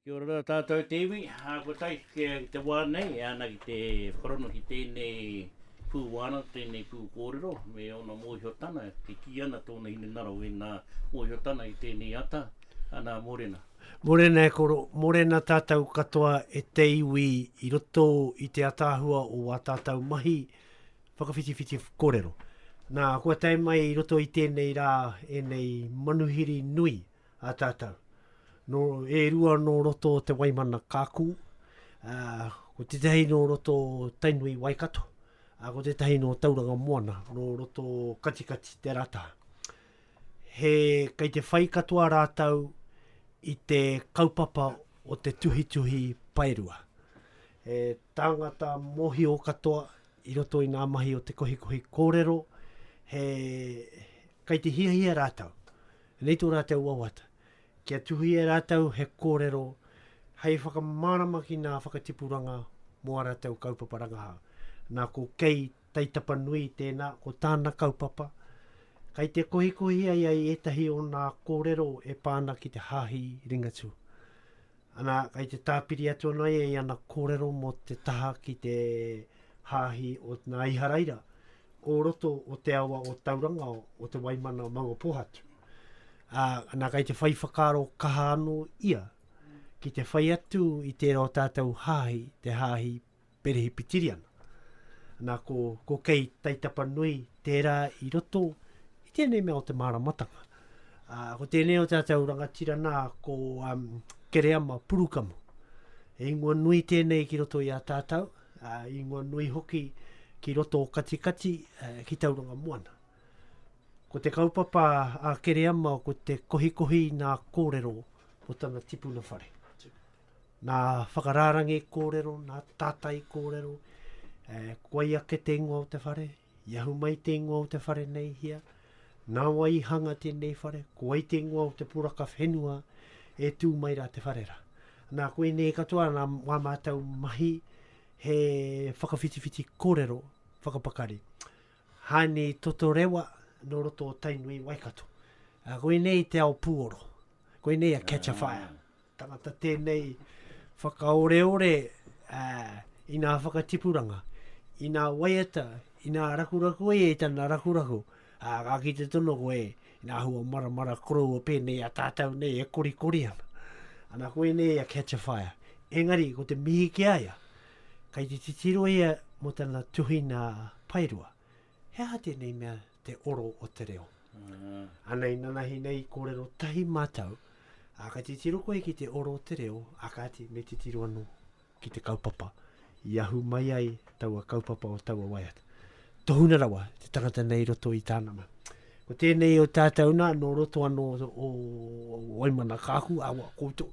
Kia ora tātou te iwi, ko tai ki te wā nei e ana ki te whakarongo ki tēnei pū wānanga, tēnei pū kōrero me ōna mōhiotana, e kī ana tōna hinengaro ēnā mōhiotana i tēnei ata, anā mōrena. Mōrena e koro, mōrena tātou katoa e te iwi i roto i te ataahua o wā tātou mahi, Whakawhitiwhiti kōrero. Nā, kua tae mai i roto i tēnei rā, ēnei manuhiri nui a tātou. Nō, e rua nō roto o Te Waimana Kākū, ā, ko tētahi nō roto o Tainui Waikato, ā, ko tētahi nō Tauranga Moana, nō roto o Katikati Te Rata. He, kei te whai katoa rātou i te kaupapa o te tuhituhi paerua. He tāngata mōhio katoa, I roto i ngā mahi o te kohikohi kōrero, he, kei te hiahia rātou, nei tō rātou wawata, kia tuhia e rātou he kōrero hei whakamārama ki ngā whakatipuranga mō ā rātou kaupapa rangahau. Nā, ko Kei Taitapanui tēnā, ko tāna kaupapa, kei te kohikohia ia i ētahi o ngā kōrero e pā ana ki te Hāhi Ringatū. Ana, kei te tāpiri atu ana ia i ana kōrero mō te taha ki te hāhi o nā Iharaira o roto o te awa o Tauranga o te Waimana o Maunga Pōhatu. Ā, ana, kei te whai whakaaro kaha anō ia ki te whai atu i tērā o tātou hāhi, te hāhi Perehipitiriana. Nā, ko, ko Kei Taitapanui tērā i roto i tēnei mea o te māramatanga. Uh, ko tēnei o tātou rangatira nā, ko um, Kereama Purukamu. E ingoa nui tēnei ki roto i a tātou, uh, ingoa nui hoki ki roto o Katikati, uh, ki Tauranga Moana. Ko te kaupapa a Kereama ko te kohikohi nā kōrero o tana tipuna whare. Nā whakarārangi kōrero, nā tātai kōrero, e, koia ake te ingoa o te whare, i ahu mai te ingoa o te whare nei hea, nā wai i hanga tēnei whare, ko wai te ingoa o te poraka whenua e tū mai rā te whare rā. Nā, koinei katoa nā wā mātou mahi he whakawhitiwhiti kōrero, whakapakari. Hāni Totorewa, nō roto o Tainui, Waikato. Koinei te ao pūoro. Koinei a Catch a Fire. Tangata tēnei whakaoreore i nā whakatipuranga, i nā waiata, i nā rakuraku e i tana rakuraku, ā, ka kite tonu koe i nā hua maramara koroua pēnei a tātou nei e korikori ana. Ana koinei a Catch a Fire. Engari, ko te mihi ki a ia, kei te titiro ia mō tana tuhinga paerua. He aha tēnei mea? te oro o te reo. Uh. Ana i nanahi nei i kōrero tahi mātou, a ka titiro koe ki te oro o te reo, a kāti me titiro anō ki te kaupapa i ahu mai ai taua kaupapa o taua waiata. Tohuna rawa te tangata nei roto i tāna ma. Ko tēnei o tātou nā, nō roto anō o Waimana Kāku, a wā koutou.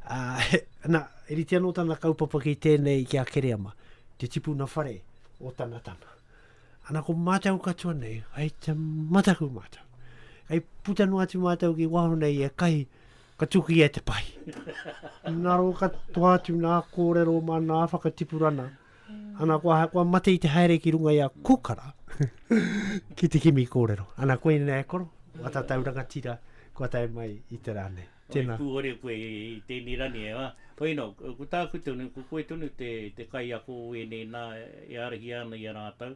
Uh, ana, e rite anō tana kaupapa ki tēnei ki a Kereama, te tipuna whare o Tanatana. Ana ko mātou katoa nei, ai te mataku mātou. Ai puta noa atu mātou ki waho nei e kahi, ka tuki e te pahi. Naro ka toa atu nā kōrero mā nā whakatipurana. Ana kua, kua mate i te haere ki runga i a Kukara, ki te kimi kōrero. Ana koe nei e koro, wata tau rangatira, kua tae mai i te rā nei. Hoi pūhore koe i tēnei rā nei, ā. Hoi anō, ko tāku tonu, ko koe tonu te kaiako o ēnei nā e arahia ana i a rātou,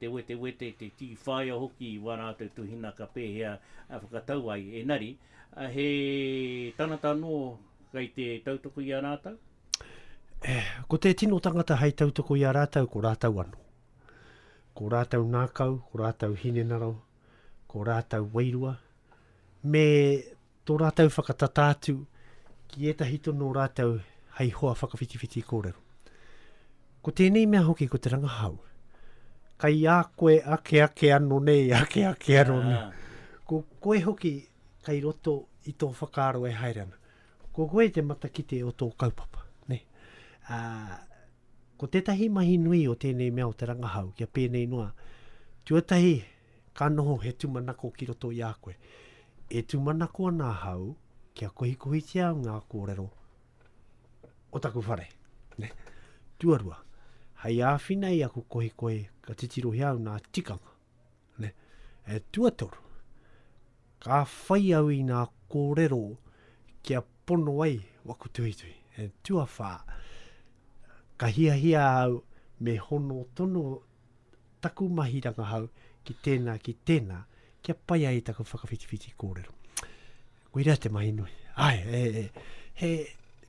te wetewete, te tī whāia hoki i wā rātou tuhinaka pēhea e whakatau ai. Engari, he tangata anō kei te tautoko i a rātou? E, ko te tino tangata hei tautoko i a rātou, ko rātou anō. Ko rātou ngākau, ko rātou hinengaro, ko rātou wairua, me tō rātou whakatata atu ki ētahi tono o rātou hei hoa whakawhitiwhiti kōrero. Ko tēnei mea hoki ko te rangahau, kai a koe ake ake ano nei, ake ake ano nei. Ko koe hoki kai roto i tō whakaaro e haere ana. Ko koe te matakite o tō kaupapa, nē. Ā, ko tētahi mahi nui o tēnei mea o te rangahau, kia pēnei noa, tuatahi, ka noho he tūmanako ki roto i a koe. E tūmanako ana ahau kia kohikohitia ngā kōrero o taku whare, nē. Tuarua, hei āwhina i aku kohikohe, ka titirohia au nā tikanga. ne, e tuatoru, ka whai au i ngā kōrero kia pono ai waku tuhituhi, e tuawhā, ka hiahia au me hono tono taku mahi rangahau ki tēnā, ki tēnā, kia pai ai taku whakawhitiwhiti kōrero. Koira te mahi nui. Ai, e, e, he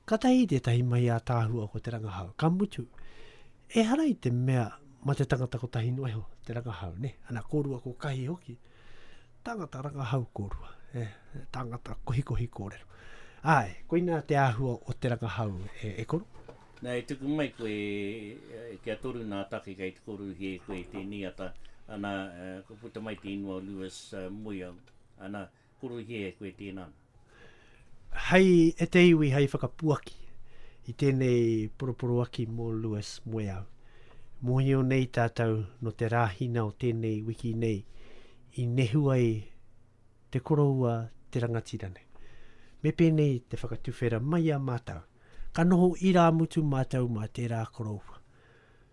katahi tētahi mahi a tāhua ko te rangahau. Ka mutu, e hara i te mea ma te tangata ko tahi noeho, te rangahau, ne? Ana, kōrua ko kahi hoki. Tangata rangahau kōrua, e, tangata kohikohi kōrero. Ai, koina te āhua o te rangahau, e, e koro? Na, e tuku mai koe, e, kia toru nā take kei te koruhi e koe te niata. Ana, e, kua puta mai te inua o Lewis, a, moe au. Ana, Kurui kē e koe tēnā nā. Hei e te iwi hei whakapuaki i tēnei poroporoaki mō Lewis Moeau. Mōhio nei tātou nō te rāhina o tēnei wiki nei i nehu ai te koroua te rangatira nei. Me pēnei te whakatuwhera mai a mātou, ka noho irāmutu mātou mā tērā koroua.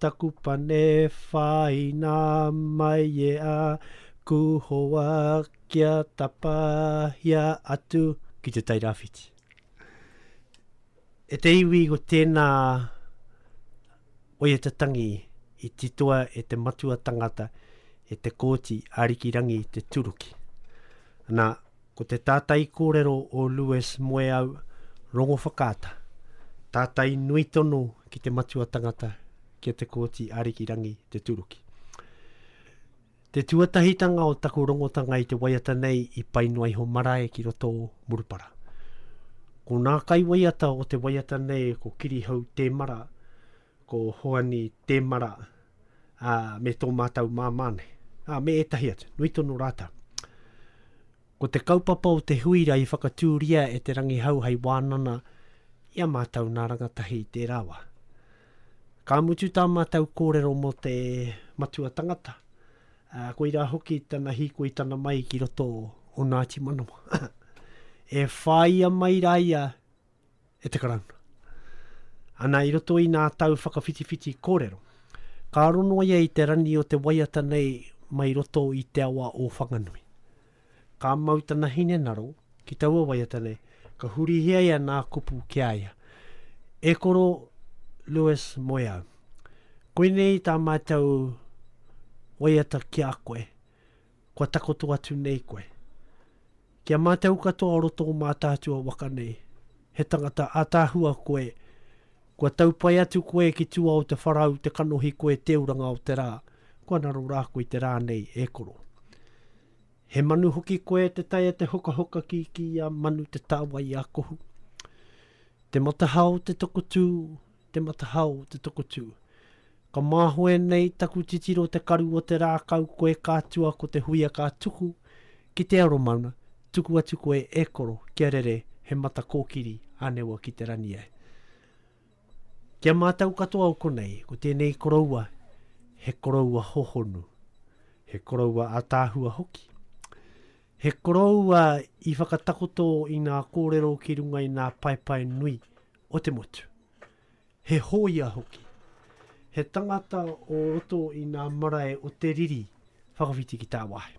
Taku pane whāina mai e a Kūhoa kia tapahia atu ki Te Tai Rāwhiti. E te iwi ko tēnā oia te tangi i titoa e te matua tangata e te Kōti Ariki Rangi te turuki. Ana, Ko te tātai kōrero o Lewis Moeau Rongowhakaata, tātai nui tono ki te matua tangata ki a Te Kooti Arikirangi Te Turuki. Te tuatahitanga o taku rongotanga i te waiata nei i pai noa iho marae ki roto o Murupara. Ko nā kaiwaiata o te waiata nei ko Kirihau Temara, ko Hoani Temara, ā, me tō mātou māmā nei, ā, me ētahi atu, nui tonu rātou. Ko te kaupapa o Te Huira i whakatūria e Te Rangihau hei wānana i a mātou nā rangatahi i tērā wā. Ka mutu tā mātou kōrero mō te matua tangata, ā, koirā hoki tana hīkoi tana mai ki roto o Ngāti Manawa. e whāia mai rā ia e te Karauna. Ana i roto i nā tau whakawhitiwhiti kōrero, ka aro noa ia i te rani o te waiata nei mai roto i te awa o Whanganui. Ka mau tana hinengaro ki taua waiata nei, ka hurihia ia nā kupu ki a ia, E koro Lewis Moeau, koinei tā mātou waiata ki a koe, kua takoto atu nei koe. Ki a mātou katoa o roto o Mātaatua waka nei, he tangata ataahua koe, kua tau pai atu koe ki tua o te wharau te kanohi koe te uranga o te rā, kua raro rā koe te rā nei e koro. He manu hoki koe te tae a te hokahoka ki ki a manu te tāwai a kohu. Te matahao te tokotū te matahao te tokotū. Ka māhoe nei taku titiro te karu o te rākau koe ka tua ko te huia ka tuku ki te aromaunga tuku atu koe e koro kia rere he mata kōkiri ānewa ki te rani ai. Ki a mātou katoa o konei ko tēnei koroua he koroua hohonu, he koroua ataahua hoki. He koroua i whakatakoto i ngā kōrero ki runga i ngā paepae nui o te motu. He hōia hoki. He tangata o roto i ngā marae o te riri whakawhiti ki tāwāhi.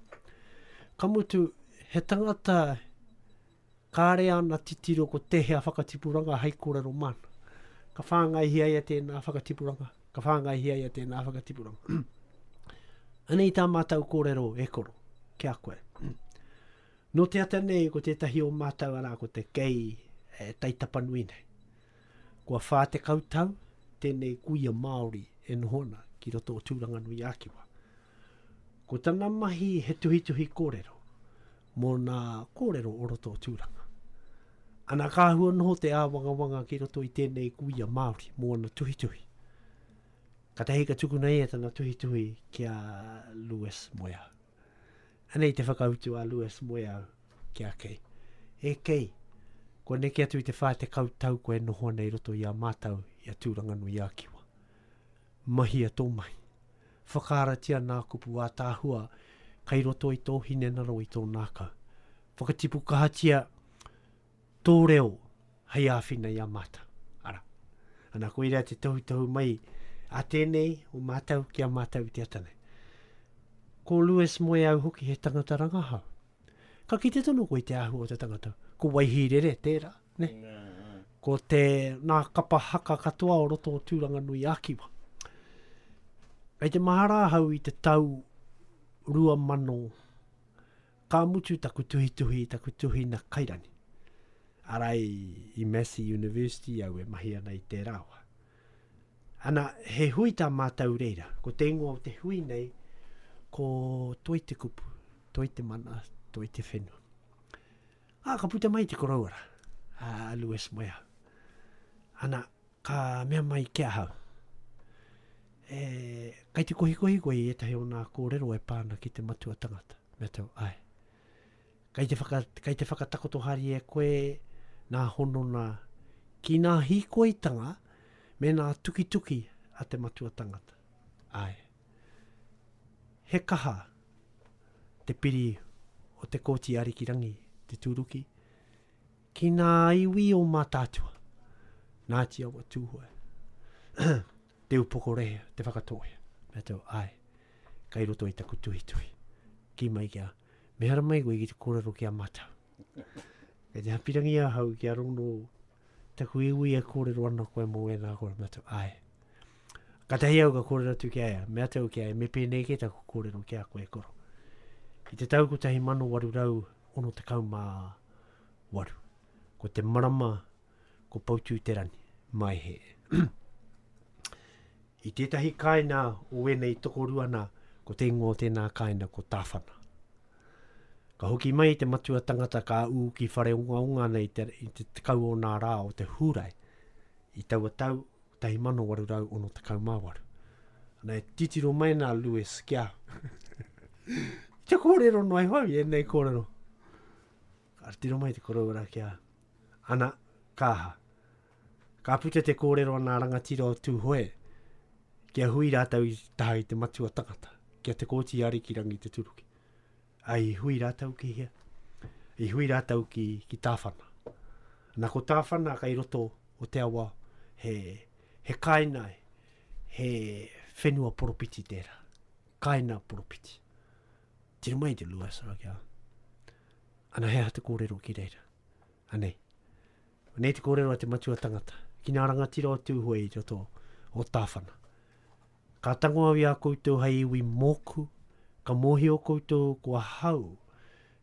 Ka mutu, he tangata kāre ana titiro ko tēhea whakatipuranga hai kōrero māna. Ka whāngaihia ia tēnā whakatipuranga, ka whāngaihia ia tēnā whakatipuranga. Anei tā mātou kōrero e koro, ki a koe. Nō te ata nei ko tētahi o mātou arā ko te kei e Taitapanui nei. Kua 40 tau tēnei kuia Māori e noho ana ki roto o Tūranganui-ā-Kiwa. Ko tana mahi he tuhituhi kōrero mō nā kōrero o roto o Tūranga. Ana ka hua noho te āwangawanga ki roto i tēnei kuia Māori mō ana tuhituhi. Katahi ka tukuna ia tana tuhituhi ki a Lewis Moeau. Anei te whakautu a Lewis Moeau ki a Kei. E Kei, kua neke atu i te whā tekau tau koe e noho ana i roto i a mātau i a Tūranganui-a-Kiwa. Mahia tō mahi. Whakaaratia nā kupu ātaahua kei roto i tō hinengaro i tō nākau. Whakatipu kahatia Tō reo hei āwhina i a mātou. Ara. Ana, koirā te tohutohu mai a tēnei o mātou ki a mātou i te ata nei. Ko Lewis Moe au hoki he tangata rangahau. Ka kite tonu koe i te āhua o te tangata. Ko Waihīrere tērā, ne? Ko te nā kapa haka katoa o roto o Tūranganui a Kiwa. Kei te mahara ahau i te tau 2000 Ka mutu taku tuhituhi i taku tuhinga kairangi. Ara i, i Massey University au e mahi ana i tērā wa. Ana, he hui tā mātou reira. Ko te ingoa o te hui nei, ko Toi te Kupu, Toi te Mana, Toi te Whenua. Ā, ka puta mai te koroua rā, a Lewis Moeau. Ana, Ka mea mai ki ahau, E, kei te kohikohi koe i ētahi o nā kōrero e pā ana ki te matua tangata? Mea tau, Ae. Kei te, whaka, kei te whakatakoto hari e koe nā honona ki nā hīkoitanga me nā tukituki a te matua tangata? Ae. He kaha te piri o te Kōti Arikirangi, te tūruki, Ki ngā iwi o Mātaatua, Ngāti Awa, Tūhoe, Te Upoko Rehea, Te Whakatōhea, me tau, ae, kai roto i taku tuhituhi. Ki mai kia, me hara mai koe ki te kōrero ki a mātau. Kei te hapirangi ahau ki a rono taku iwi e kōrero ana koe mō ēnā kōrero, me tau, ae. Ka tahi au ka kōrero atu ki a ea, me atau ki a ea, me pēnei ke taku kōrero ki a koe koro. I te tau 1864, waru. Ko te marama, ko Poutūterani, mai he. I tētahi kāinga o wēnei tokorua nā, ko te ingoa o tēnā kāinga ko Tāwhana. Ka hoki mai te matua tangata ka ū ki whare onga onga nei te, i te tekau o nā rā o te hūrai. I taua tau, 1868. Ana, e titiro mai nā Lewis kia kia kōrero noa iho au i ēnei kōrero. Ka tiro mai te koroura kia, ana, kāha. Ka puta te kōrero ana rangatira o Tūhoe, kia hui rātou i taha i te matua tangata, kia te kōti a Rikirangi te turuki. ai i hui rātou ki hea? I hui rātou ki, ki Tāwhana. Nā ko Tāwhana kai roto o te awa he, he kāina, he whenua poropiti tērā. Kāina poropiti. Tira mai te lua sara kia. Ana he aha te kōrero ki reira? Anei. Anei te kōrero a te matua tangata. Ki nā rangatira o Tūhoe i roto o Tāwhana. Ka tango au i a koutou hei iwi mōku, ka mōhio koutou ko ahau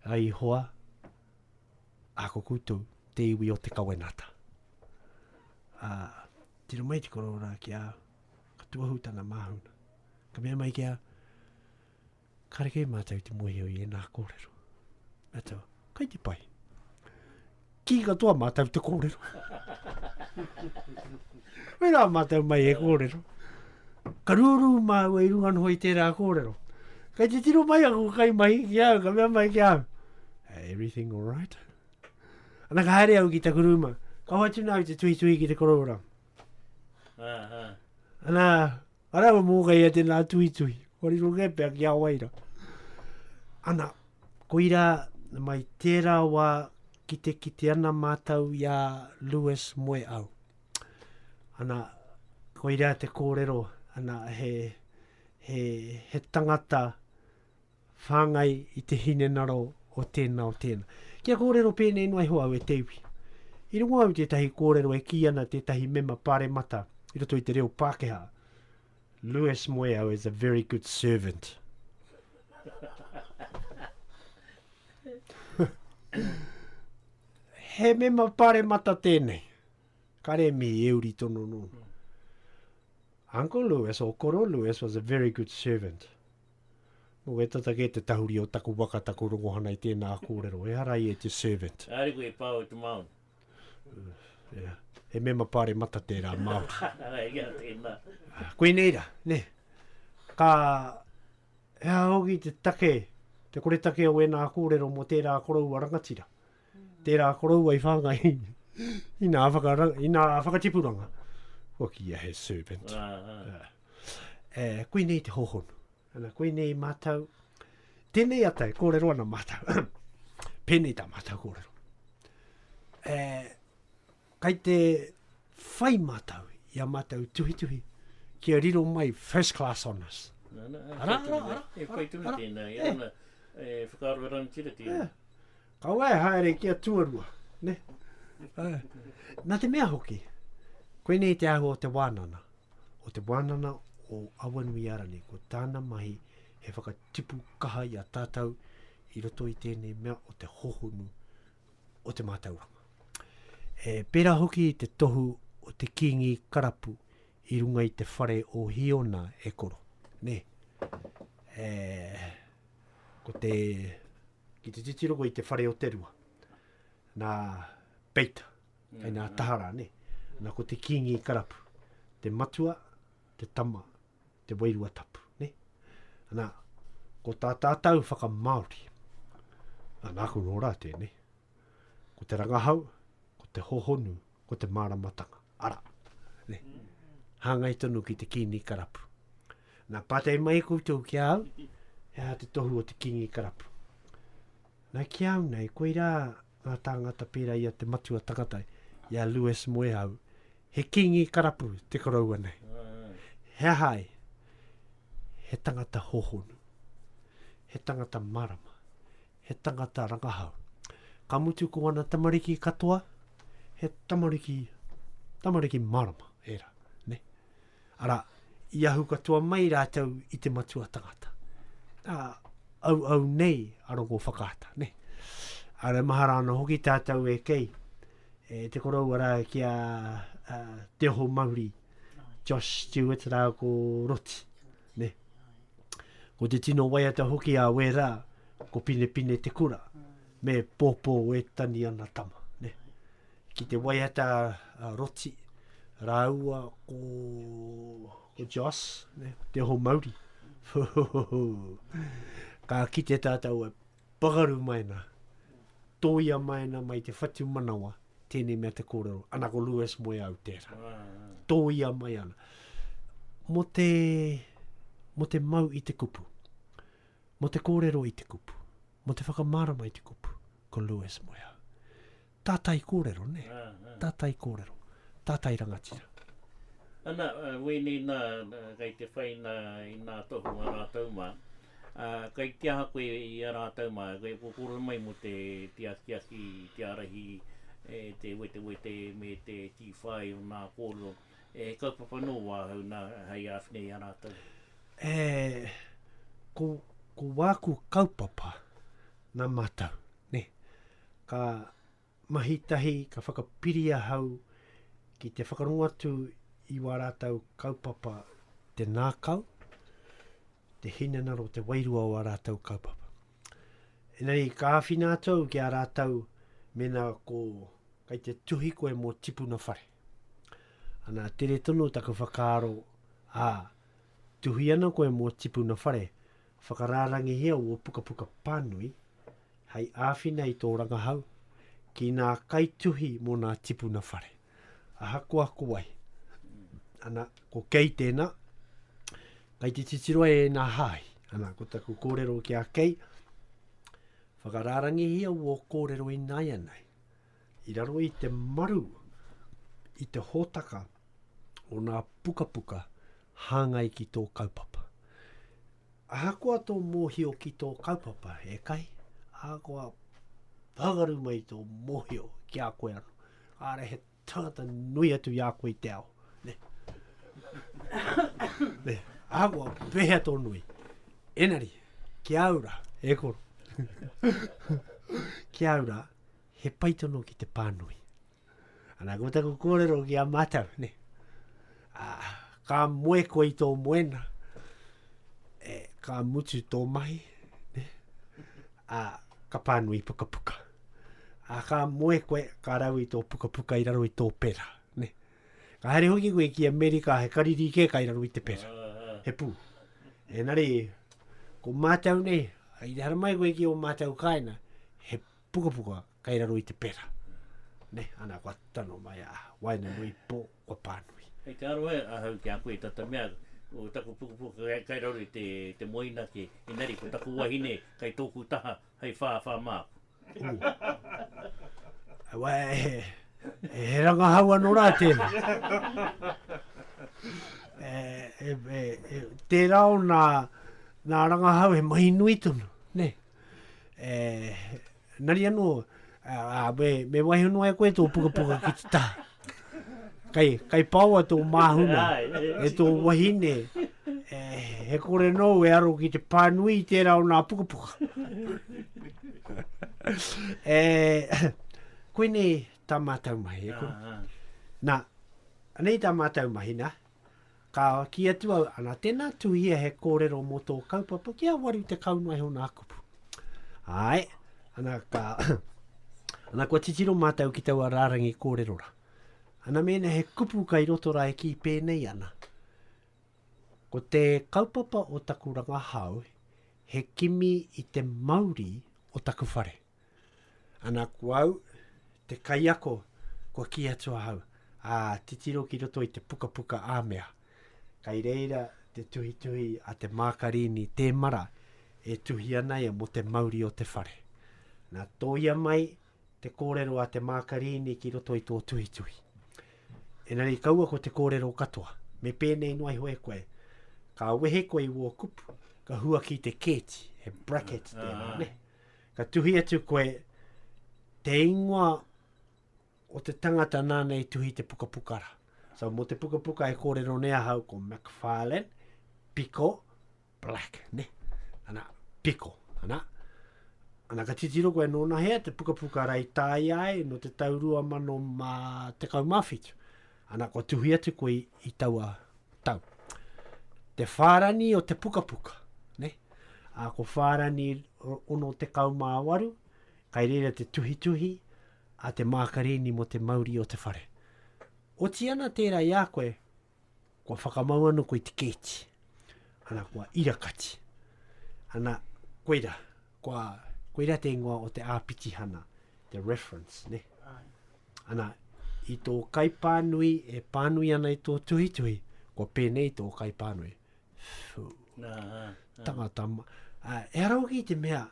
a Ihowa, ā, ko koutou te iwi o te kawenata. Ā, tiro mai te kororā ki a au, ka tuahu tana māhuna, ka mea mai ki a, Kareke e mātou te mohio i ēnā kōrero. Nā tau, kai te pai. Ki katoa mātou te kōrero. Wei rā mātou mai e kōrero. Ka rūrū māua i runga noho i tērā kōrero. Kai te tiro mai aku kai mai ki au, ka mea mai ki au. Everything all right? Ana ka haere au ki taku rūma. Ka hoatu nā au te tuhi tuhi ki te korora. Ana, Ara wa mo kai ate na tui tui. Ko ri ro ke pe ki a waira. Ana. Koira mai tera wa ki te kite ana matou ia Lewis moe au. Ana koira te korero ana he he he tangata whāngai i te hinengaro o tēnā, o tēnā. Kia kōrero pēnei noa iho au e te iwi. I rongo au tētahi kōrero e kī ana tētahi mema pāremata i roto i te reo Pākehā, Louis Moeau is a very good servant. He mema pāremata tēnei. Kare mihi e uri tono nōna. Uncle Louis or Koro Louis was a very good servant. Nō wē tata kē te tahuri o taku waka, taku rongohana i tēnā kōrero. Ehara i e te servant. Kāre koe e pā o te Māori. Ea, he mema pāremata tērā Māori. Āe, ea, tēnā. Koinei rā, nē. Ka, he aha hoki te take, te koretake o ēnā kōrero mō tērā koroua rangatira? Tērā koroua i whāngai i nā whakaranga, i nā whakatipuranga. Kua kia he servant. Uh, uh. Uh. E, koinei te hohonu. Ana, koinei mātou. Tēnei atai, kōrero ana mātou. Pēnei tā mātou kōrero. E, Kai te whai mātou i a mātou tuhituhi kia riro mai first class honours. Nā, nā, e whai tonu nei. E whai tonu tēnā, e ana, e whakaaro e rangatira tēnā. Kaua e haere ki a tuarua, ne? Nā te mea hoki, koinei te āhua o te wānana, o te wānana o Awanuiarangi, ko tāna mahi he whakatipu kaha i a tātou i roto i tēnei mea o te hohonu o te mātauranga. E pērā hoki i te tohu o te kīngi karapu i runga i te whare o Hiona e koro. Nē, e, ko te, ki te titirongo i te whare o te rua, nā Peita, mm. nā Tahara, nē, nā ko te kīngi karapu, te matua, te tama, te Wairua Tapu, ne? Ana, ko tā tātau whakamāori, nā, nāku nō rā tēnei, ko te rangahau, ko te hohonu, ko te māramatanga, ara, ne? Hāngai tonu ki te kīngi karapu. Nā, pātai mai koutou ki a au, he aha te tohu o te kīngi karapu? Nā, ki au nei, koirā ngā tāngata pērā i a Te Matua Takatai, i a Lewis Moehau, he kīngi karapu te koroua nei. He aha ai? He tangata hōhonu, he tangata marama, he tangata rangahau. Ka mutu ko ana tamariki katoa, he tamariki, tamariki marama, ērā. Arā, i ahu katoa mai rātou i te matua tangata. Ā, auau nei a Rongo Whakaata, nē. Āre mahara ana hoki tātou e kei, e te koroua rā ki a uh, Te Oho Mauri, Josh Stewart rā ko Roti, nē. Ko te tino waiata hoki a Wērā, ko Pinepine te kura. Me popo e tani ana tama, ne. Ki te waiata a Roti raua ko, ko Joss, ne, te ho mauri. Ka kite tatou e pakaru mai na, toia mai na mai te whatu manawa, tene mea te korero, ana ko Lewis moe au tera. Toia mai ana. Mo te, mo te mau i te kupu. Mō te kōrero i te kupu, mō te whakamārama i te kupu, ko Lewis Moeau. Tātai kōrero, nē? Tātai kōrero, tātai rangatira. Ana, wēnei nā, kei te whai nā i nā tohu a rātou mā. Ā, kei te aha koe i a rātou mā, kei kōkōrero mai mō te akiaki, te ārahi, te wetewete me te kī whai o nā kōrero. E kaupapa nō wāhau nā hei āwhina i a rātou? E, ko, ko wāku kaupapa nā mātou, nē. Ka mahi tahi, ka whakapiri ahau ki te whakarongo atu i wā rātou kaupapa te nākau, te hinanaro, te wairua o ā rātou kaupapa. Enei, ka āwhina atu au ki a rātou mēnā ko, kei te tuhi koe mō tipuna whare. Ana, tere tonu taku whakaaro, ā, tuhi ana koe mō tipuna whare, whakarārangihia wō pukapuka pānui hei āwhina i tō rangahau ki nā kaituhi mō nā tipuna whare. Ahakoa ko wai. Ana, ko Kei tēnā, kai te titiro ai e nā hāhi. Ana, ko taku kōrero ki a Kei, whakarārangihia wō kōrero ināianei. I raro i te maru, i te hōtaka o nā pukapuka hāngai ki tō kaupapa. Ahakoa tō mōhio ki tō kaupapa, ētahi, ahakoa pāngaru mai tō mōhio ki a koe anō, kāre he tangata nui atu i a koe i te ao. Ne. ne. Ahakoa, pēhea tō nui. Enari, ki a ura, e koro. ki a ura, he pai tono ki te pānui. Ana, ko taku kōrero ki a mātou, ne? A, ka moe koe i tō moena, e, ka mutu tō mahi, ne? A, ka pānui pukapuka. A, ka moe koe, ka rau i tō pukapuka i raro i tō pera, ne? Ka haere hoki koe ki Amerika, he kariri kē kai raro i te pera. He pū. Enari, ko mātou nei, i te haramai koe ki o mātou kāina, he Pukapuka kei raro i te pera. Ne, ana kua tano mai a Waenganui po kua panui. Kei te aroha ahau ki a koe tata mea ko taku pukapuka kei, kei raro i te, te moina ke, engari ko taku wahine kei toku taha hei whāwhā māku. Ooh. Wai, he, he, he rangahau ano ra tena. Tera ona, na rangahau he mahi nui tonu, ne. E, nari anō, a, me, me waiho noa e koe tō pukapuka ki te taha. Kai, kai paoa tō māhuna, e tō wahine, e, he kore nou e aro ki te pānui i tērā o nā pukapuka. e, koinei tā mātou mahi, e kore. Nā, anei tā mātou mahi, nā, Ka kī atu au, ana, tēnā, tuhia he kōrero mō tō kaupapa kia waru te kau mai hona a kupu. Āe, ana, ka, ana, kua titiro mātou ki taua rārangi kōrero ra. Ana mēnā he kupu kai roto rā e kī pēnei ana, ko te kaupapa o taku rangahau he kimi i te mauri o taku whare. Ana ko au, te kaiako, kua kī atu ahau, ā, titiro ki roto i te pukapuka āmea. Kai reira te tuhituhi a te mākarini tēmara e tuhi ana ia mō te mauri o te whare. Nā, tōia mai te kōrero a te mākarini ki roto i tō tuhituhi. Enari kaua ko te kōrero katoa, me pēnei noa iho e koe, ka wehe koe i wō kupu, ka huaki te kēti, he bracket tēnā, ne? Ka tuhi atu koe, te ingoa o te tangata nāna i tuhi te pukapuka ra. So, mo te pukapuka e kōrero nei ahau ko McFarlane, Piko, Black, ne? Ana, Piko, ana. Ana, ka titiro koe nōna hea te pukapuka ra i tāia ai no te tau rua mano mā tekau mā whitu. Ana, kua tuhi atu koe i taua tau. Te whārani o te pukapuka, ne? A, ko whārani 68, kai reira te tuhituhi a te mākarini mo te mauri o te whare. Oti ana tērā i a koe, kua whakamau ana koe i te kēti. Ana, kua ira kati. Ana, koira, kua, koira te ingoa o te āpitihana, te reference, ne? Ai. Ana, i tō kaipānui e pānui ana i tō tuhituhi, kua pēnei tō kaipānui. Whew. Nā, nā. Tangata, ma- ā, e ara hoki i te mea,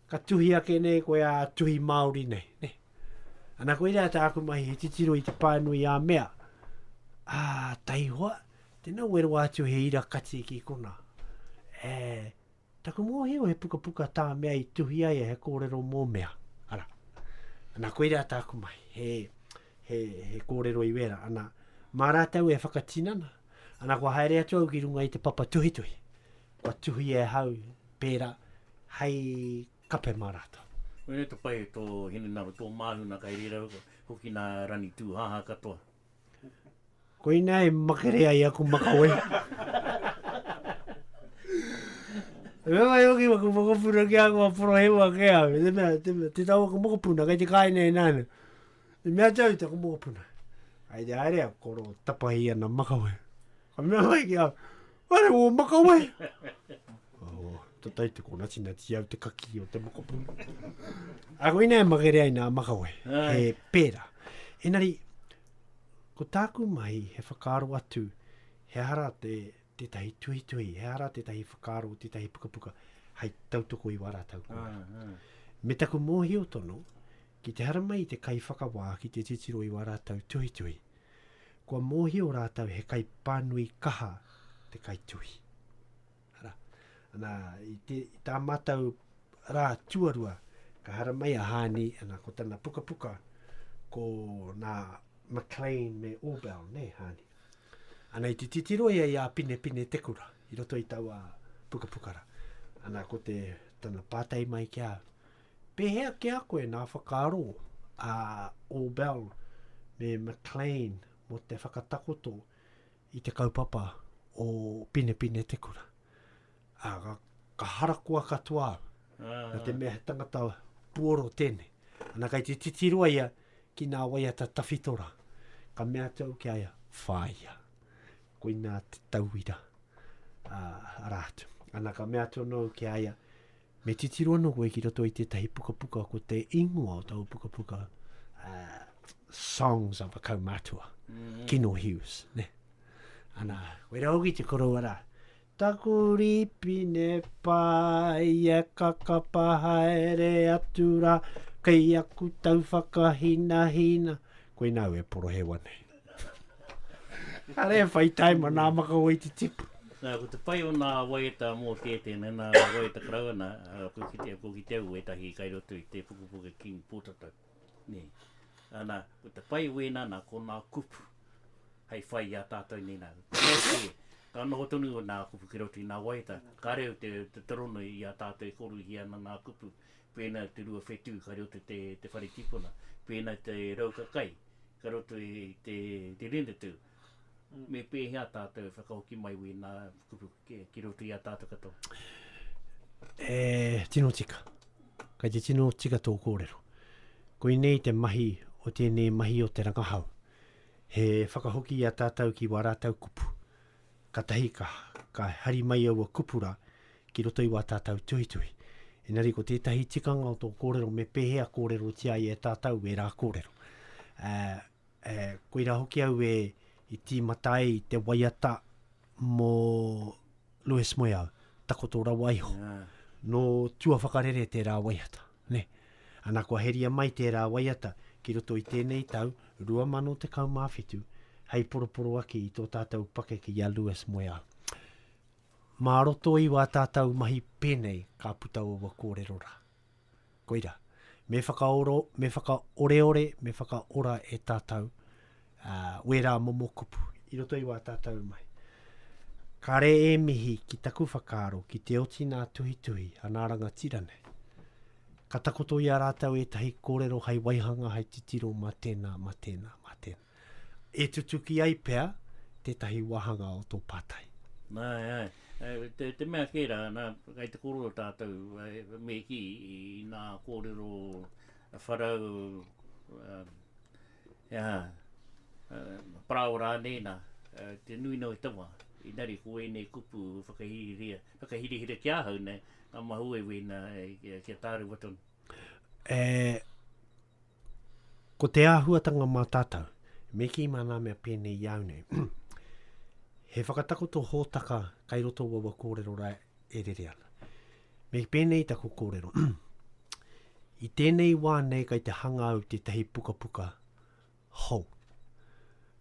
ka tuhi ake nei koe ā tuhi Māori nei, ne? Ana koirā tāku mahi, he titiro i te pānui ā mea, ā, taihoa, tēnā ue roa atu he ira kati ki konā. E, Taku mōhio he pukapuka tā mea i tuhi ai he kōrero mō mea, ara. Ana, koirā tāku mahi, he, he, he kōrero i wērā. Ana, mā rātou e whakatinana, ana, kua haere atu au ki runga i te papa tuhituhi. Kua tuhi e hau, pērā, hei kape mā rātou. Koinei te pai o tō hinengaro, tō māhuna kai reira hoki nā Ranitūhaha katoa. Koina e makere ai aku makawe. Me mai hoki waku mokopuna ki a kua porohewa ke au. Te mea, te, te tau aku mokopuna, kei te kāina e nāna. Te mea tau te aku mokopuna. Ai te haere au, koro tapahi ana makawe. Ka mea mai ki au, ware wō makawe. Oh, to tai te kona tina ti au te kaki o te mokopu. A ko ina e magere ai nā makawe, ah. he pēra. Enari, ko tāku mahi he whakaaro atu, he ara te, te tahi tuhi tuhi, he ara te tahi whakaaro, te tahi puka puka, hai tautoko i wara tau kua. Ah, ah. Me taku mōhi o tono, ki te hara mai te kai whakawā ki te titiro i wā rātau tuhi tuhi. Kua mōhi o rātau he kai pānui kaha te kai tuhi. Ara, ana, i, te, i tā mātou rā tuarua, ka haramai a Hāni, ana, ko tana pukapuka, ko nā McLean me Orbell, ne, Hāni. Ana, i te titiro ia i a Pinepine Te Kura, i roto i taua pukapuka ra. Ana, ko te, tana pātai mai ki a au, pēhea ki a koe nā whakaaro a Orbell me McLean mo te whakatakoto i te kaupapa o Pinepine te kura. Ā, ka, ka harakoa katoa au. Ah. Nā te mea he tangata puoro tēnei. Ana kai te titiroa ia ki nā waiata tawhito rā. Ka mea atu au ki a ia, whāia. Koinā te tauira. Ā, arā atu. Ana ka mea atu anō au ki a ia, Me titiro ana koe ki roto i tētahi pukapuka ko te ingoa o taua pukapuka uh, Songs of a Kaumatua, mm. Kino Hughes. Ne? Ana, koe rā hoki te koroua rā. Taku ripine pai e kakapa haere atu rā, kei aku tau whakahina hina. Koe nāu e porohewa nei. Ka re whai taim ana maka wai te tipu. Na, ko te pai o na waiata mo te tena, na waiata karau ana, ko kite, ko kite au wetahi kai roto i te pukepuke King Potatau, ne. Ana, ko te pai wena na ko na kupu hei whai i a tatou nei na, ka noho tonu na kupu ki roto i na waiata, ka reo te, te toronui i a tatou e koruhi ana na kupu. Pēnā te rua whetū ka roto te te whare tipuna. Pēnā te rauka kai ka roto i te te ringatū. Me pēhea tātou e whakahoki mai wēnā kupu ki roto i a tātou katoa? E tino tika. Kei te tino tika tō kōrero. Koinei te mahi o tēnei mahi o te rangahau. He whakahoki i a tātou ki wā rātou kupu. Katahi ka, ka hari mai aua kupu ra ki roto i wa tatau tuhituhi. Enari ko tetahi tikanga o to korero me pehea korerotia ai e tatau era korero. A, a, koira hoki au e i timata ai te waiata mo Louis Moeau, takoto rawa iho. Yeah. No tua whakarere tera waiata. Nē. Ana kua heria mai tērā waiata ki roto i tēnei tau 2017 hei poroporoaki i tō tātou pakeke i a Lewis Moeau. Mā roto i wā tātou mahi pēnei ka puta ōwa kōrero rā. Koirā. Me whakaoro, me whakaoreore, me whakaora e tātou wērā momo kupu i roto i wā tātou mahi. Kāre e mihi ki taku whakaaro ki te oti nā tuhituhi a nā rangatira nei. Ka takoto i a rātou ētahi kōrero hai waihanga, hai titiro mā tēnā, mā tēnā, mā tēnā. E tutuki ai pea tētahi wāhanga o tō pātai. Ai, ai. Te, te mea kē rā, nā, kai te kōrero tātou, me ki i nā kōrero wharau, um, Ā, parāoa rānei, nā, te nui nei o te tama, engari ko ēnei kupu e whakahirihia, whakahirihira ki ahau nei, ngā mahi ueiuei nā, kia tārewa tonu. E, ko te āhuatanga mā tātou, me kī mā nā mea pēnei i au nei, he whakatakoto hōtaka kai roto o aua kōrero rā e rere ana. Me pēnei taku kōrero. I tēnei wā nei kai te hanga au tētahi pukapuka hou.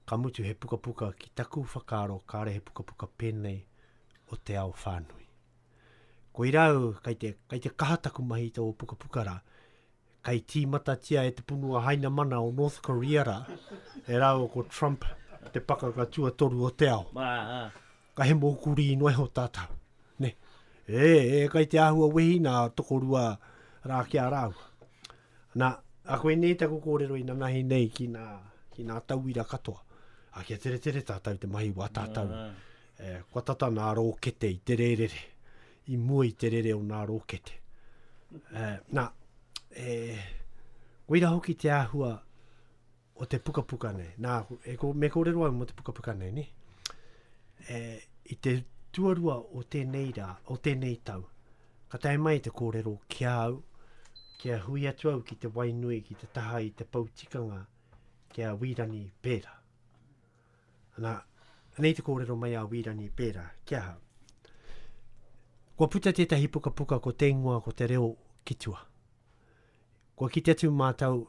Ka mutu he pukapuka ki taku whakaaro kāre he pukapuka pēnei o te ao whānui. Koirā au kai te, kai te kaha taku mahi i tō pukapuka rā, kei tīmatatia e te Punua Hainamana o North Korea rā, e rāua ko Trump te pakanga tuatoru o te ao. Ka he mōu kurī noa iho tātou. Ne? E, e, kei te āhua wehi nā tokorua rā ki a rāua. Nā, a koe nei taku kōrero i nanahi nei ki nā, ki nā tauira katoa. A kia tere tere tātou te mahi wā tātou. E, kua tata nā rōkete i te rērere. i mua i te rere o nā rōkete. Nā, e, koira hoki te āhua o te pukapuka nei. Nā, e, ko, me kōrero au mō te pukapuka nei, ne? E, I te tuarua o tēnei rā, o tēnei tau, ka tae mai te kōrero ki a au, ki a hui atu au ki te wainui, ki te taha i te poutikanga, ki a Wīrani Pēra. Ana, nei te kōrero mai a Wīrani pērā, kia ha. Kua puta tētahi pukapuka ko Te Ingoa ko te Reo ki tua. Kua kite atu mātou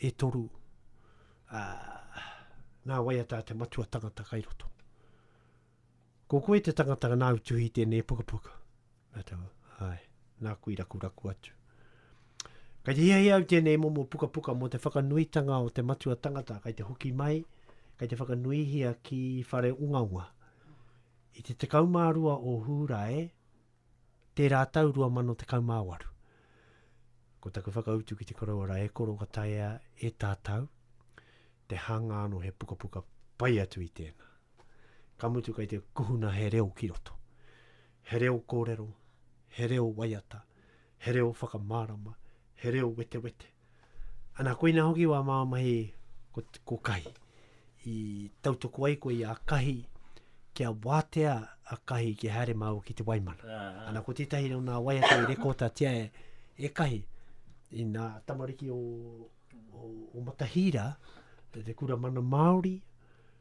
e toru, uh, nā waiata te matua tangata kai roto. Ko koe te tangata nāu tuhi tēnei pukapuka. Nā te wā, āe, nāku i rakuraku atu. Kei te hiahia au tēnei momo pukapuka mō te whakanuitanga o te matua tangata kei te hoki mai, kei te whakanuihia ki Whareungaunga. I te 12 o Hūrae, Tērā tau 2018, ko taku whakautu ki te koroua rā, e koro ka taea e tātau te hanga anō he pukapuka pai atu i tēnā. Ka mutu kei te kuhuna he reo ki roto. He reo kōrero, he reo waiata, he reo whakamārama, he reo wetewete. Ana, koina hoki wā māua mahi ko, ko kahi. I tautoku ai koe i a kahi, kia wātea a kahi ki haere māua ki te waimana. Ah, ah. Ana, ko tētahi o nā waiata i rekota tia e, e kahi, i nā tamariki o, o, o Matahīra, te, te kura mana Māori,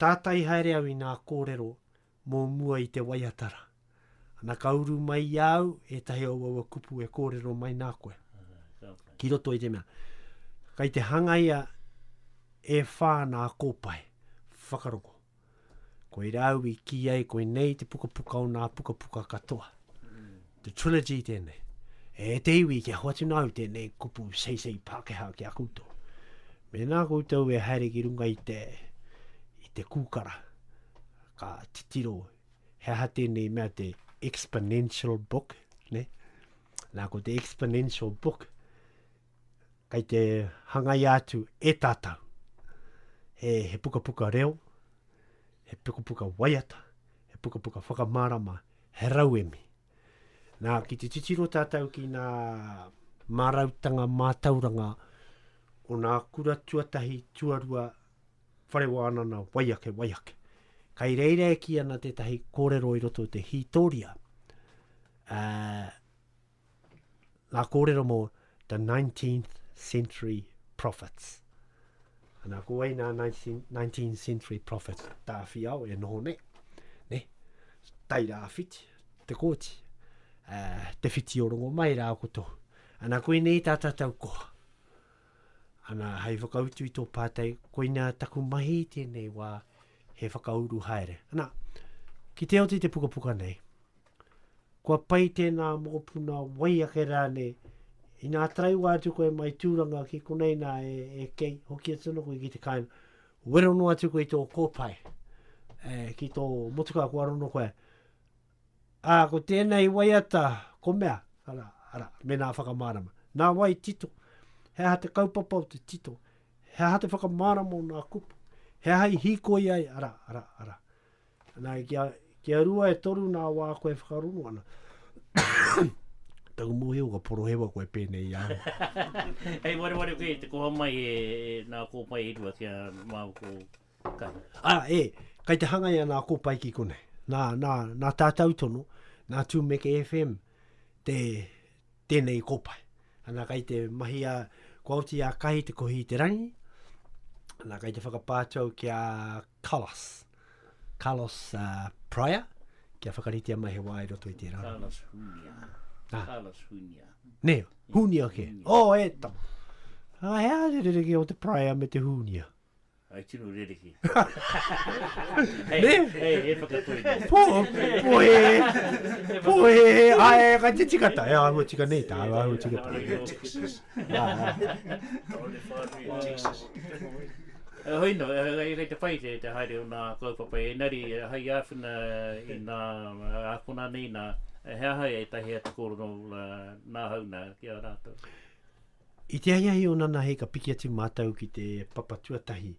Tātai haere au i ngā kōrero mō mua i te waiata rā. Ana ka uru mai i a au ētahi o aua kupu e kōrero mai nā koe. Ki roto i te mea, kei te hangaia e whā nā kōpae whakarongo. Koirā au i kī ai koinei te pukapuka o nā pukapuka katoa. Te Trilogy tēnei. E te iwi kia hoatu nāu tēnei kupu seisei Pākehā ki a koutou. Mēnā koutou e haere ki runga i te, i te kūkara, ka titiro he aha tēnei mea te exponential book, ne? Nā, ko te exponential book, kei te hangaia atu e tātou he, he pukapuka reo, he pukapuka waiata, he pukapuka whakamārama, he rauemi. Nā, ki te titiro tātou ki nā mārautanga mātauranga o nā kura tuatahi, tuarua, whare wānana, waiake, waiake. Kai reira e ki ana tētahi kōrero i roto te hītoria, uh, ngā kōrero mō the 19th century prophets. Ana, ko wei nā 19th century prophets tā whiao e noho nei. Ne? Tai rā whiti, te kōti, uh, te whiti o rongo mai rā ko tō. Ana, koe nei tā tātou koha. Ana, hei whakautu i tō pātai, koina taku mahi tēnei wā, he whakauru haere. Ana, ki te oti te pukapuka nei, Kua pai tēnā mokopuna wai ake rānei. Inā taraiwa atu koe mai Tūranga ki konei nā e, e kei, hoki atu ana koe ki te kāinga. Wero noa atu koe i tō kōpae, e, ki tō motukā kua rono koe. Ā, ko tēnei waiata, ko mea, ara, ara, mēnā whakamārama. Nā wai tito? He aha te kaupapa o te tito? He aha te whakamārama o nā kupu? He aha i hīkoi ai, ara, ara, ara. Ana, i kia, kia rua e toru nā wā koe whakarongo ana. Taku mōhio ka porohewa koe pēnei i ahau. Hei wareware koe te koha mai e, e nā kōpae e rua kia māu ko Kahi. A, e, kai te hangai a nā kōpae ki konei. Nā, nā, nā tātau tono, nā Tūmeke FM, te, tēnei i kōpae. Ana kai te mahi a kua oti a kahi te kohi i te rangi, ana kai te whakapā atu au ki a Carlos, Carlos uh, Pryor, kia whakaritea mai he wā i roto i tērā. Carlos Hunia. Ah. Carlos Hunia. Ne, Hunia ke. Oh, e tama. Ah, hea, te rereke o te Pryor me te Hunia. I tino rerekē. Hei, e whakatoi nei. Pō, pōhēhē, pōhēhē, āe, kai te tika tā, e āhua tika nei tā, e āhua tika tā. Āe, Texas. Tāone whānui, Texas. E hoi nō, kai te whai te haere o nā kaupapa, ēnari hai āwhina i nā ākona nei nā, he aha ētahi atu kōrero nā hau nā ki a rātou? I te ahiahi o Nana Hei ka piki atu mātou ki te papa tuatahi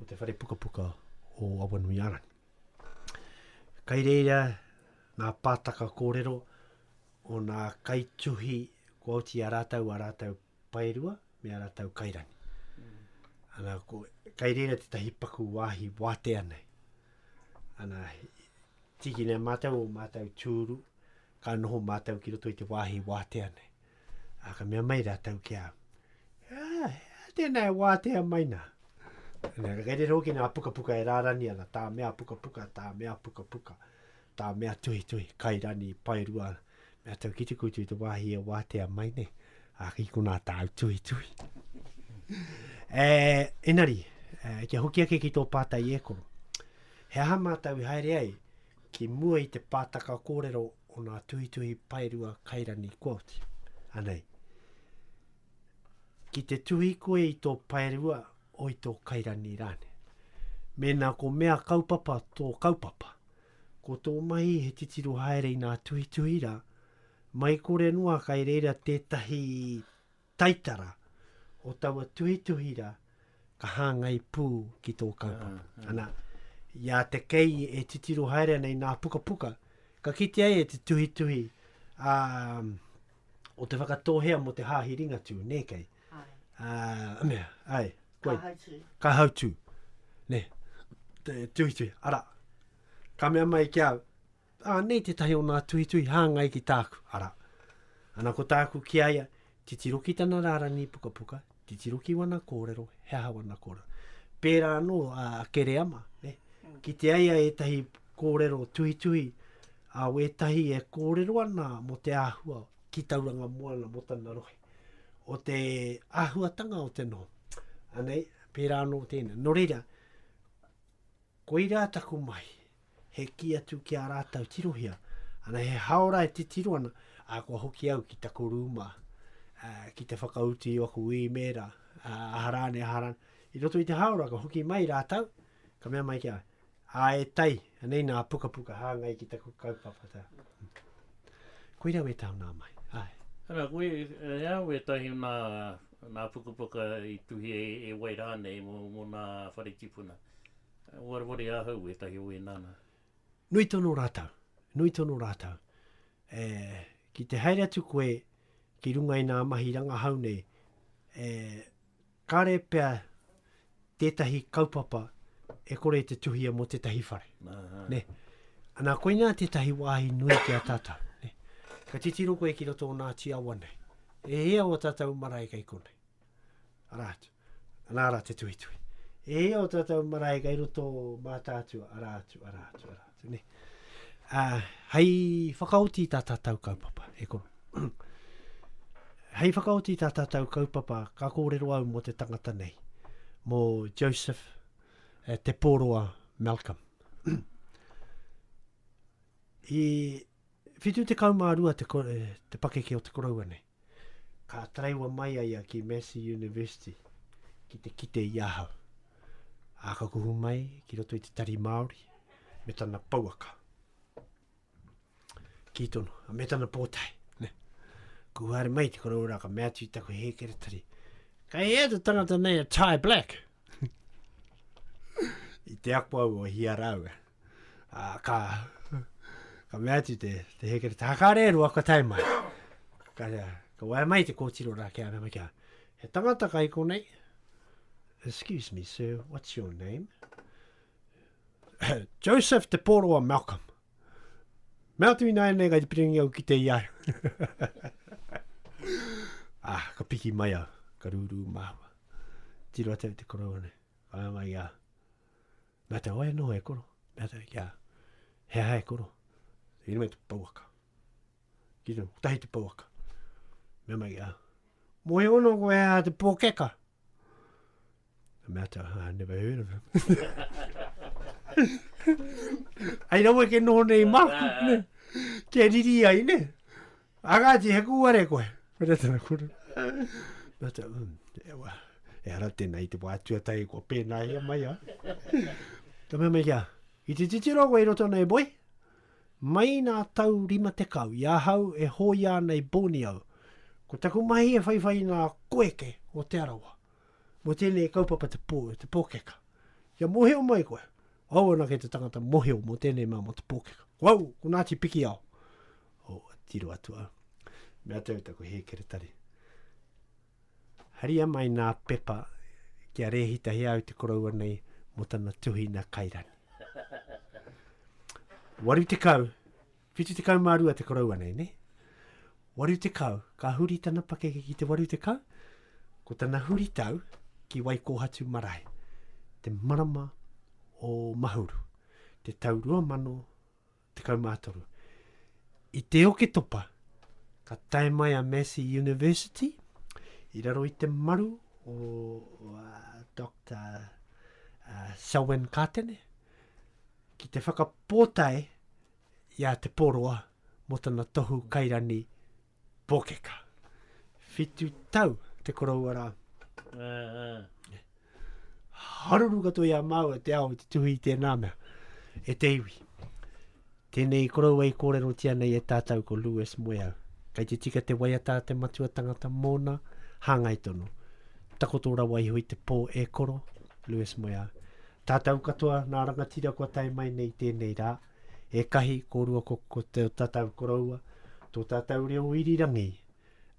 o te whare pukapuka o Awanuiārangi. Kai reira ngā pātaka kōrero o nā kaituhi kua oti a rātou, a rātou paerua me a rātou kairangi. Ana, ko, kai reira tētahi paku wāhi wātea nei. Ana, tiki nei mātou o mātou tūru, ka noho mātou ki roto i te wāhi wātea nei. Ā, ka mea mai rātou ki a, Ā, tēnā e wātea mai nā. Nā, ka rere hoki nā pukapuka e rārani ana, tā mea pukapuka, tā mea pukapuka, tā mea tuhituhi, kai rani, pai rua, mea tau ki te kutu te wāhi e wātea mai nei. Ā, ki konā tāu tuhituhi. e, enari, e, kia hoki ake ki tō pātai e koro. He aha mātou i haere ai ki mua i te pātaka kōrero o ngā tuhituhi paerua kairani quote, anei. Ki te tuhi koe i tō paerua o i tō kairani rānei. Mēnā ko mea kaupapa tō kaupapa, ko tō mahi he titiro haere i ngā tuhituhi rā, mai kore noa kai reira tētahi taitara o taua tuhituhi ra ka hangai pu ki tō kaupapa. Ana, i a te kei e titiro haere ana i nā pukapuka, ka kitea ia te tuhituhi a, o te whakatōhea mo te Hāhi Ringatū, nē kei? Ai. Mea, ai, koe. Kahautū. Kahautū, nē, te tuhituhi. Ara, ka mea mai ki au, Ā, nei tētahi o nā tuhituhi hāngai ki tāku, arā. Ana ko tāku ki a ia, titiro ki tana rārangi pukapuka, titiro ki wana kōrero, he aha wana kōrero. Pērā anō a Kereama, ne, kitea ia ētahi kōrero tuhituhi, ā, wētahi e kōrero ana mō te āhua ki Tauranga Moana mō tana rohe, o te āhuatanga o te noho. Anei, pērā anō tēnei. Nō reira, koirā taku mahi. he kī atu ki a rātou tirohia, ana he haora e titiro ana, a kua hoki au ki taku rūma, a, ki te whakautu i aku īmēra, a, aha rāne, aha rāne. I roto i te haora, ka hoki mai rātou, ka mea mai ki a, a e tai, anei nā pukapuka hāngai ki taku kaupapa. Tā. Koira wē tāu nā mai. Ai. Ana, koe, e a, wē tahi o nā, nā pukapuka i tuhia e, e wai rānei mō, mō nā whare tipuna. I wareware ahau wētahi o ēnā nā. Nui tonu rātou, nui tonu rātou. E, ki te haere atu koe ki runga i nā mahi rangahau nei, e, kāre pea tētahi kaupapa e kore e te tuhia mō tētahi whare. Aha. Ne? Anā, koinā tētahi wāhi nui ki a tātou. Ne? Ka titiro koe ki roto o nā tiawa nei. E hia o tātou marae kei konei? Arā atu. Nā rā te tuhituhi. E hia o tātou marae kai roto mātātua, arā atu, arā atu, arā atu. Ne? A, hei whakaoti tā tātou kaupapa, e koro. hei whakaoti tā tātou kaupapa, ka kōrero au mō te tangata nei, mō Joseph eh, Te Pōroa Malcolm. I 72 te kore, te pakeke o te koroua nei. Ka taraiwa mai a ia ki Massey University ki te kite i ahau. A ka kuhu mai ki roto i te tari Māori me tana pouaka. Ki tono, a me tana pōtae. Ne. Ku haere mai te koroua rā ka mea atu i taku hēkeretari. Ka hea te tangata nei a Ty Black. I te ako au o hia rāua. Ā, ka, ka mea atu te, te hēkere, te hakaare e rua kua tae mai. Ka, ka wae mai te kōtiro rā kia rama kia, he tangata kai konei, excuse me sir, what's your name? Joseph Te Pōroa Malcolm. Mea atu i nāianei kai te piringi au ki te ia. ah, ka piki mai au, ka rūrū māua. Tiro atu te koroa nei. Ai mai ia. Mea te oe noho e koro. Mea te kia he aha e koro. Ina mai te pauaka. Ki te tahi te pauaka. Mea mai ia. Mo e ono ko e a te pokeka. Mea te aha, never heard of him. Ai rawe ke noho nei maku, ne? Kia riri ai, ne? A kāti, he kūare koe. Mera tana kura. Mera tana, um, e wa. E ara tēnā i te wā tuatai kua pēnā ia mai a. Ka mea mai kia, i te titiro koe i roto nei, boy. Mai nā tau rima tekau i ahau e hōia ana i Borneo, ko taku mahi e whaiwhai i ngā koeke o Te Arawa. Mō tēnei kaupapa te pō, te pōkeka. Kia mōhio mai koe, au anake te tangata mōhio mō tēnei mā mō te pōkeka. Ko au, ko Ngāti Pikiao. o Tiro Atua. Mea tau taku hēkeretari. Haria mai nā pepa kia rēhitahi au te koroua nei mo tana tuhina kairani. Waru tekau, whitu tekau mā rua te koroua nei, ne? Waru tekau, ka huri tana pakeke ki te waru tekau, ko tana huri tau ki Waikōhatu marae, te marama o Mahuru, te tau rua mano 13. I te Oketopa, ka tae mai a Massey University i raro i te maru o uh, Dr. Uh, Selwyn Katene ki te whakapōtae i a Te Poroa mō tana tohu kairani Pōkeka. Whitu tau te koroua rā. Haruru katoa i a māua te ao i te tuhi i tēnā mea. E te iwi. Tēnei koroua i kōrerotia nei e tātou ko Lewis Moeau. Kei te tika te waiata a te matua tangata mōna, hāngai tonu. Takoto rawa iho i te pō e koro, Lewis Moeau. Tātou katoa nā rangatira kua tae mai nei i tēnei rā. e kahi, ko rua, ko, ko te tatau koroua, tō tātou reo irirangi,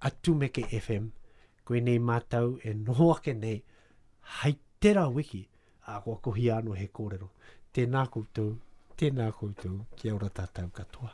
a Tumeke FM, koinei mātou e noho ake nei, hai tera wiki, a kua kohia ano he kōrero. Tēnā koutou, tēnā koutou, kia ora tātou katoa.